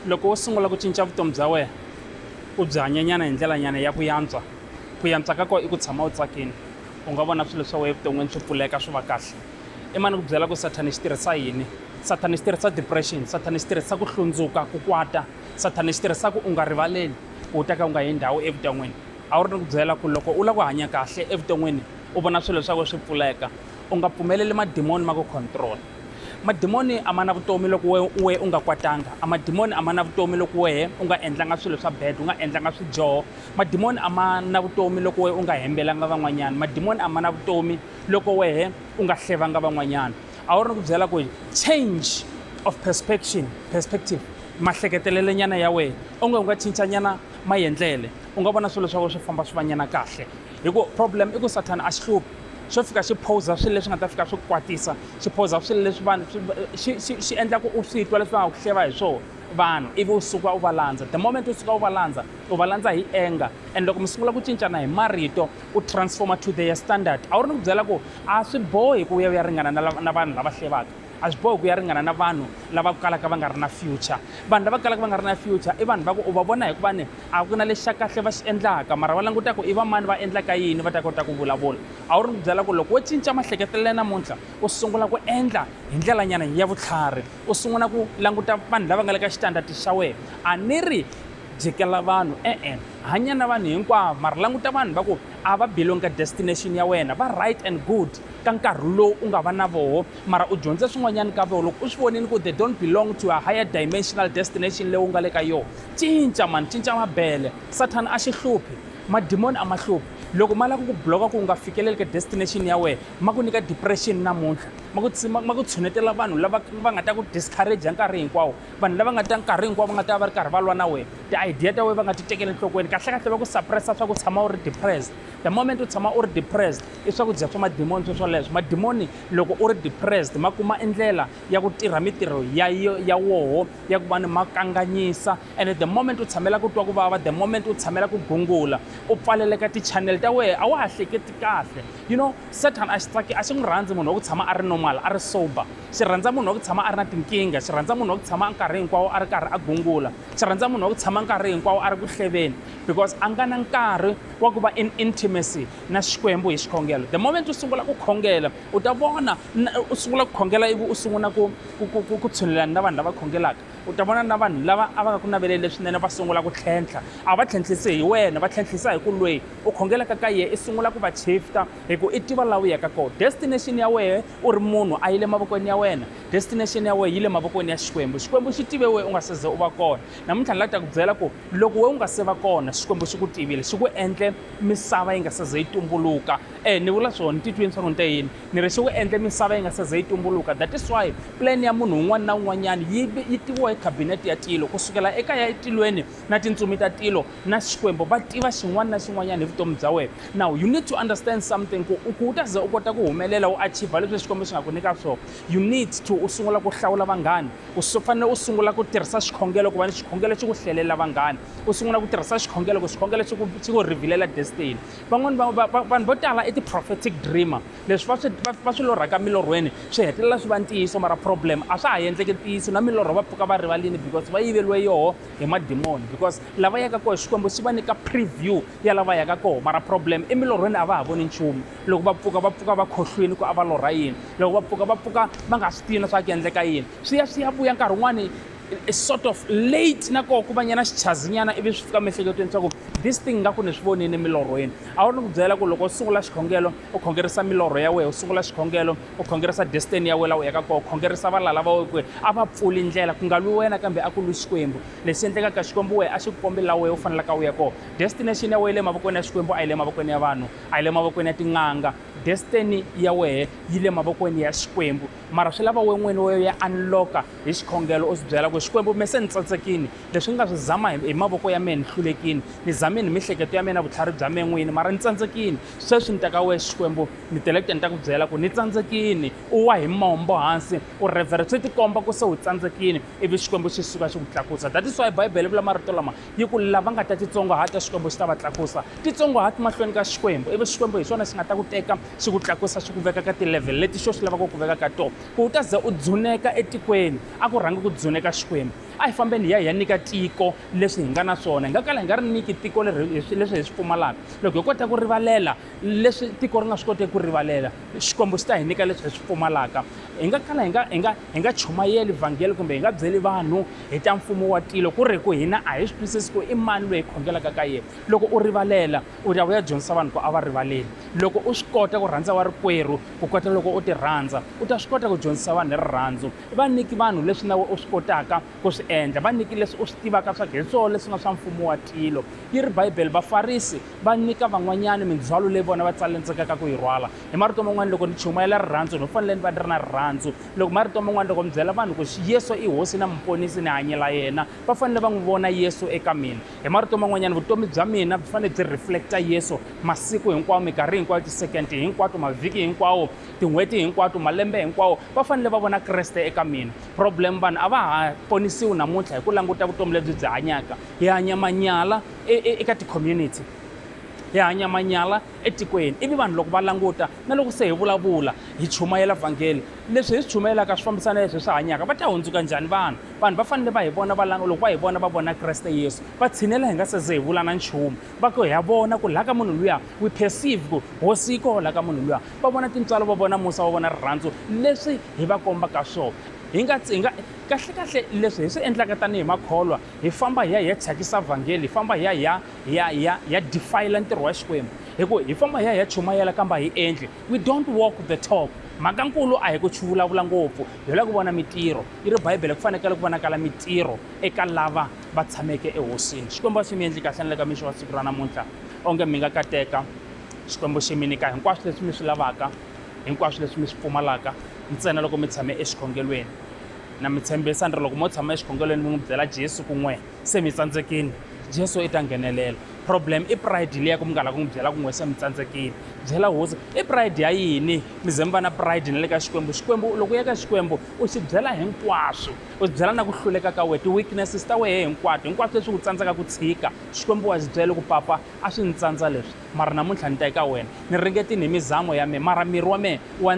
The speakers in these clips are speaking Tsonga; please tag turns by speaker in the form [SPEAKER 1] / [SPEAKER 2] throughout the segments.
[SPEAKER 1] loko wo sungula ku cinca vutomi bya wena u byi hanyanyana hi ndlelanyana ya ku yantswa ku yantswa ka kona i ku tshama u tsakini u nga vona swilo swa wena evuton'wini swi pfuleka swi va kahle i mani ku byela ku sathani xi tirhisa yini sathani xi tirhisa depression sathani xi tirhisa ku hlundzuka ku kwata sathani xi tirhisa ku u nga rivaleli ku u ta ka u nga yi ndhawu evuton'wini a wu ri ni ku byela ku loko u lava ku hanya kahle evuton'wini u vona swilo swa wena swi pfuleka u nga pfumeleli madimoni ma ku control Madimoni a ma na vutomi loko wehe u wehe u nga kwatanga. A madimoni a ma na vutomi loko wehe u nga endlanga swilo swa bad, u nga endlanga swidyoho. Madimoni a ma na vutomi loko wehe u nga hembelanga van'wanyana. Madimoni a ma na vutomi loko wehe u nga hlevanga van'wanyana. A wu ri ni ku byela ku change of perspection, perspective, mahleketelelenyana ya wehe, onge u nga cinca nyana mayendlele, u nga vona swilo swa wehe swi famba swi va nyana kahle. Hi ku problem i ku Sathana a xi hluphi xo fika xi phoza swilo leswi nga ta fika swi ku kwatisa xi phoza swilo leswi vanhu xi endla ku u swi twa leswi va nga ku hleva hi swona vanhu ivi u suka u va landza the moment u suka u va landza u va landza hi anger and loko mi sungula ku cincana hi marito u transforma to their standard a wu ri ni ku byela ku a swi bohi ku u ya u ya ringana na vanhu lava hlevaka a swi bohi ku ya ringana na vanhu lava ku kalaka va nga ri na future vanhu lava kalaka va nga ri na future i vanhu va ku u va vona hikuva ni a ku na lexi xa kahle va xi endlaka mara va languta ku i va mani va endlaka yini va ta kota ku vulavula a wu ri ku byela ku loko wo cinca mahleketelele namuntlha u sungula ku endla hi ndlelanyana ya vutlhari u sungula ku languta vanhu lava nga le ka xitandati xa wena a ni ri jikela vanhu e-e hanya na vanhu hinkwavo mara languta vanhu va ku a va belong ka destination ya wena va right and good ka nkarhi lowu u nga va na voho Mara u dyondze swin'wanyana ka vona loko u swi vonile ku they don't belong to a higher dimensional destination leyi u nga le ka yona cinca mani cinca mabele sathana a xi hluphi madimoni a ma hluphi loko ma lava ku ku bloka ku u nga fikeleli ka destination ya wena ma ku nyika depression namuntlha ma ku ma ku tshunetela vanhu lava va nga ta ku discourage nkarhi hinkwawo vanhu lava nga ta nkarhi hinkwawo va nga ta va ri karhi va lwa na wena ti-idea ta wena va nga ti tekeli enhlokweni kahlekahle va ku suppressa swa ku tshama u ri depressed the moment u tshama u ri depressed i swakudya swa madimoni sweswoleswo madimoni Loko u ri depressed, ma kuma endlela ya ku tirha mitirho ya, ya woho ya ku va ni ma kanganyisa. And the moment u tshamela ku twa ku vava, the moment u tshamela ku gungula, u pfaleleka ti-channel ta wehe, a wa ha hleketi kahle. You know, Satan a xi tsaki, a xi n'wi rhandzi munhu wa ku tshama a ri normal, a ri sober. Xi rhandza munhu wa ku tshama a ri na tinkingha, xi rhandza munhu wa ku tshama nkarhi hinkwawo a ri karhi a gungula, xi rhandza munhu wa ku tshama nkarhi hinkwawo a ri ku hleveni, because a nga na nkarhi wa ku va in intimacy. na xikwembu hi xikhongelo the moment u sungula ku khongela u ta vona u sungula ku khongela ivi u sungula ku ku tshunelana na vanhu lava khongelaka u ta vona na vanhu lava a va nga ku naveleli leswinene va sungula ku tlhentlha a va tlhentlhisi hi wena va tlhentlhisa hi ku lweyi u khongelaka ka yehe i sungula ku va chifta hi ku i tiva laha u yaka kona destination ya wehe u ri munhu a yi le mavokweni ya wena destination ya wehe yi le mavokweni ya xikwembu xikwembu xi tive wehe u nga se ze u va kona namuntlha ni la ta ku byela ku loko wehe u nga se va kona xikwembu xi ku tivile xi ku endle misava yi nga se ze yi tumbuluka eh ni vula swona titweni swa ku ni te yini ni ri se wu endle misava yi nga se ze yi tumbuluka that is why plan ya munhu un'wana na un'wanyana yi yi tiviwa hi cabinet ya tilo ku sukela eka ya etilweni na tintsumi ta tilo na xikwembu va tiva xin'wana na xin'wanyana hi vutomi bya wena now you need to understand something ku ku u ta ze u kota ku humelela u achieve leswi xikwembu xi nga ku nyika swona you need to u sungula ku hlawula vanghana u fanele u sungula ku tirhisa xikhongelo ku va ni xikhongelo xi ku hlelela vanghana u sungula ku tirhisa xikhongelo ku xikhongelo xi ku xi ku revealela destiny van'wani va- va- va- vanhu vo tala i ti-prophetic dreamer leswi va swi va- va swi lorhaka milorhweni swi hetelela swi va ntiyiso mara problem a swa ha endleki ntiyiso na milorho va pfuka va rivalini because va yiveliwe yoho hi madimoni because lava yaka koho xikwembu xi va nyika preview ya lava yaka koho mara problem emilorhweni a va ha voni nchumu loko va pfuka va pfuka va khohlwini ku a va lorha yini loko va pfuka va pfuka va nga swi tivi na swa ku endleka yini swi ya swi ya vuya nkarhi wun'wani a sort of late na koho ku va nyana xichazinyana ivi swi fika miehleketweni swa ku this thing nga ku ni swi vonini milorhweni a wu ri ni ku byela ku loko u sungula xikhongelo u khongerisa milorho ya wena u sungula xikhongelo u khongerisa destiny ya wena la u yaka koho khongerisa valala va wena a va pfuli ndlela ku nga lwi wena kambe a ku lwi xikwembu lexi endlekaka xikwembu wena a xi ku kombi la wena u fanelaka u ya koho destination ya wena yi le mavokweni ya xikwembu a yi le mavokweni ya vanhu a yi le mavokweni ya tin'anga destiny ya wena yi le mavokweni ya xikwembu mara swi lava we n'wini wo ya unloka hi xikhongelo u swi byela ku xikwembu me se ni tsatsekini leswi ni nga swi zama hi mavoko ya mehe ni hlulekini ni zamini hi mihleketo ya mina vutlhari bya me n'wini mara ni tsandzekini sweswi ni teka wexe xikwembu ni tele ku ta ni ta ku byela ku ni tsandzekini u wa hi mombo hansi u revhere swi tikomba ku se u tsandzekini ivi xikwembu xi suka xi ku tlakusa that is why bibele vula marito lama yi ku lava nga ta titsongohata xikwembu xi ta va tlakusa titsongohati mahlweni ka xikwembu ivi xikwembu hi xona xi nga ta ku teka Xi ku tlakusa xi ku veka ka ti-level leti xo xi lavaka ku ku veka ka tona, ku u ta za u dzuneka etikweni. A ku rhangi ku dzuneka Xikwembu. A hi fambeni hi ya hi ya nyika tiko leswi hi nga na swona. Hi nga kala hi nga ri nyiki tiko leri hi swi leswi hi swi pfumalaka. Loko hi kota ku rivalela leswi tiko ri nga swi koteki ku rivalela, Xikwembu xi ta hi nyika leswi hi swi pfumalaka. Hi nga kala hi nga hi nga hi nga chumayeli vhangeli kumbe hi nga byeli vanhu hi ta mfumo wa tilo ku ri hi ku hina a hi swi twisisi ku i mani loyi hi khongelaka ka yena. Loko u rivalela, u ya u ya dyondzisa vanhu ku a va rivaleli loko u swi kota ku rhandza warikwerhu ku kota loko u ti rhandza u ta swi kota ku dyondzisa vanhu hi rirhandzu va nyiki vanhu leswi nawe u swi kotaka ku swi endla va nyiki leswi u swi tivaka swa ku hi swona leswi nga swa mfumo wa tilo yi ri bibele vafarisi va nyika van'wanyana mindzhwalo leyi vona va tsalendzekaka ku yi rhwala hi marito man'wana loko ni chumayela rirhandzu ni fanele ni va ni ri na rirhandzu loko marito man'wana loko mi byela vanhu ku yesu i hosi na muponisi ni hanyela yena va fanele va n'wi vona yesu eka mina hi marito man'wanyana vutomi bya mina byi fanele byi reflecta yesu masiku hinkwawo minkarhi hinkwayo tisekendi hinkwato mavhiki hinkwawo tin'hweti hinkwato malembe hinkwawo va fanele va vona kreste eka mina problem vanhu a va ha ponisiwi namuntlha hi ku languta vutomi lebyi byi hanyaka hi hanya manyala e, e, eka ti-community hi hanya manyala etikweni, ivi vanhu loko va languta na loko se hi vulavula, hi chumayela vhangeli, leswi hi swi chumayelaka swi fambisana na leswi hi swi hanyaka, va ta hundzuka njhani vanhu? Vanhu va fanele va hi vona va langa, loko va hi vona va vona Kreste Yesu, va tshinela hi nga se ze hi vula na nchumu, va ku, Ha vona ku laha ka munhu luya, we perceive ku Hosi yi koho laha ka munhu luya. Va vona tintswalo, va vona musa, va vona rirhandzu leswi hi va kombaka swona. Hi nga, hi nga, kahle-kahle leswi hi swi endlaka tanihi makholwa, hi famba hi ya hi ya thyakisa vhangeli, hi famba hi ya hi ya. hi ya hi ya hi ya defile ntirho wa xikwembu hi ku hi famba hi ya hi ya chumayela kambe a hi endli we don't walk the talk mhaka nkulu a hi ku chuvulavula ngopfu hi lava ku vona mitirho yi ri bibele ku fanekele ku vonakala mitirho eka lava va tshameke ehosini xikwembu a swi mi endli kahle ni le ka mixo wa siku ra namuntlha onge mi nga kateka xikwembu xi mi nyika hinkwaswo leswi mi swi lavaka hinkwaswo leswi mi swi pfumalaka ntsena loko mi tshame exikhongelweni na mi tshembisa ni ri loko mo tshama exikhongelweni mi n'wi byela jesu kun'we Se mi tsandzekini, Jesu i ta nghenelela. Problem i pride liya ku mi nga la ku n'wi byela ku n'we se mi tsandzekini. Byela hosi, i pride ya yini mi ze mi va na pride na le ka Xikwembu? Xikwembu loko u ya ka Xikwembu u xi byela hinkwaswo, u xi byela na ku hluleka ka wehe, ti-weaknesses ta wehe hinkwato, hinkwaswo leswi u tsandzaka ku tshika. Xikwembu wa xi byela ku papa a swi ni tsandza leswi mara namuntlha ni ta eka wena. Ni ringetini hi mizamo ya mina mara miri wa mehe wa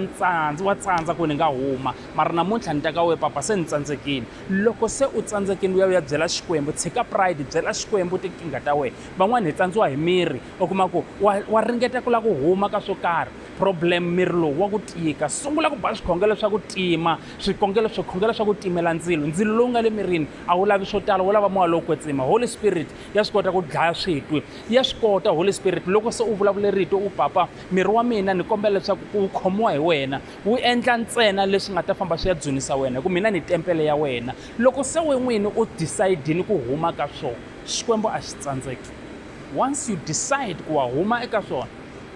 [SPEAKER 1] wa tsandza ku ni nga huma mara namuntlha ni ta ka wehe papa se ni tsandzekini. Loko se u tsandzekile u ya u ya byela Xikwembu, tshika pride, byela Xikwembu tinkingha ta wena. Van'wana hi tsandziwa hi miri, u kuma ku wa wa ringeta ku lava ku huma ka swo karhi, problem miri lowu wa ku tika. Sungula ku ba swikhongelo swa ku tima, swikongelo swikhongelo swa ku timela ndzilo. Ndzilo lowu nga le mirini a wu lavi swo tala, wu lava moya lowo kwetsima. Holy Spirit ya swi kota ku dlaya switwi, ya swi kota Holy Spirit. Loko se u vulavule rito u, Papa miri wa mina ni kombela leswaku ku wu khomiwa hi wena, U endla ntsena leswi nga ta famba swi ya dzunisa wena, hi ku mina ni tempele ya wena. Loko se we n'wini u decide-ini ku huma ka swona, Xikwembu a xi tsandzeki. Once you decide ku wa huma eka swona,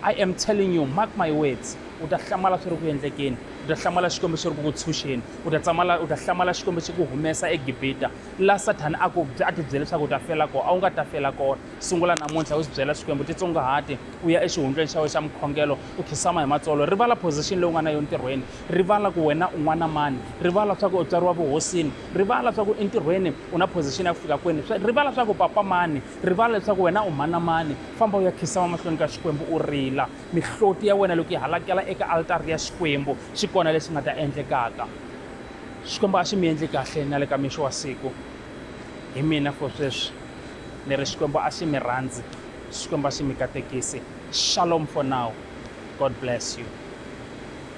[SPEAKER 1] I am telling you, mark my words, u ta hlamala swi ri ku endlekeni, u ta hlamala Xikwembu xi ri ku ku tshunxeni, u ta tsamala, u ta hlamala Xikwembu xi ku humesa eGibita, la Sathana a ku, a ti byele leswaku u ta fela kona, a wu nga ta fela kona. Sungula namuntlha u swi byela Xikwembu, titsongahati, u ya exihundlweni xa we xa mukhongelo, u khisama hi matsolo rivala position leyi u nga na yo ntirhweni rivala ku wena u n'wana mani rivala swa ku u tswariwa vuhosini rivala swa ku entirhweni u na position ya ku fika kwini rivala swa ku papa mani rivala leswaku wena u mhana mani famba u ya khisama mahlweni ka xikwembu u rila mihloti ya wena loko yi halakela eka altari ya xikwembu xi kona lexi nga ta endlekaka xikwembu a xi mi endli kahle na le ka mixo wa siku hi mina for sweswi ni ri xikwembu a xi mi rhandzi Xikwembu a xi mi katekisi. Shalom for now. God bless you.